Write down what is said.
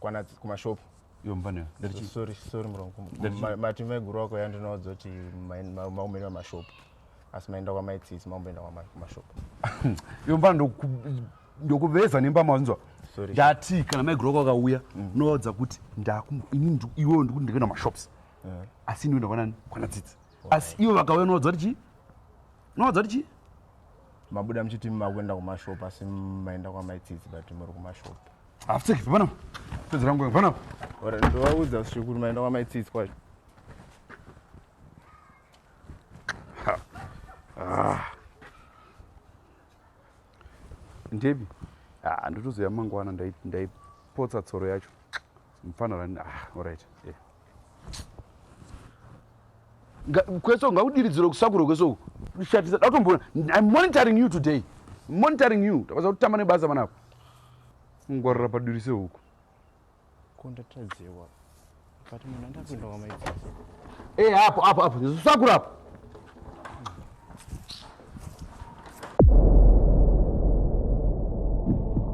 kwana kumashop sorry sorry murongo mati maiguru wako yandinoudza kuti maumene mashop asi maenda kwamaitsisi maumboenda kumashop yomba ndokuveza nemba maunzwa ndati kana maiguru wako akauya mm. unovaudza kuti ndakuini iwewo ndikuti ndikuenda mashops eh. asi ndikuenda kwanani kwana tsitsi asi ivo vakauya unovaudza kuti chii unovaudza kuti chii mabuda muchiti makuenda kumashop asi maenda kwamaitsitsi but muri kumashop Hapfeke pano. Pedzi rangu pano. Ora ndovaudza shukuru maenda kwa maitsitsi kwacho. Ah. Ndebi. Ah, ndotozoya mangwana ndaipotsa tsoro yacho. Mfana rani. Ah, all right. Yeah. kweso ngakudiridziro kusakuro kweso shatisa datomboona im monitoring you today monitoring you takwaza kutamba nebasa vanako ngwarira paduri sehuku kondatadzewa but munhu andapinda wamaidzi e eh, apo apo apo sakura apo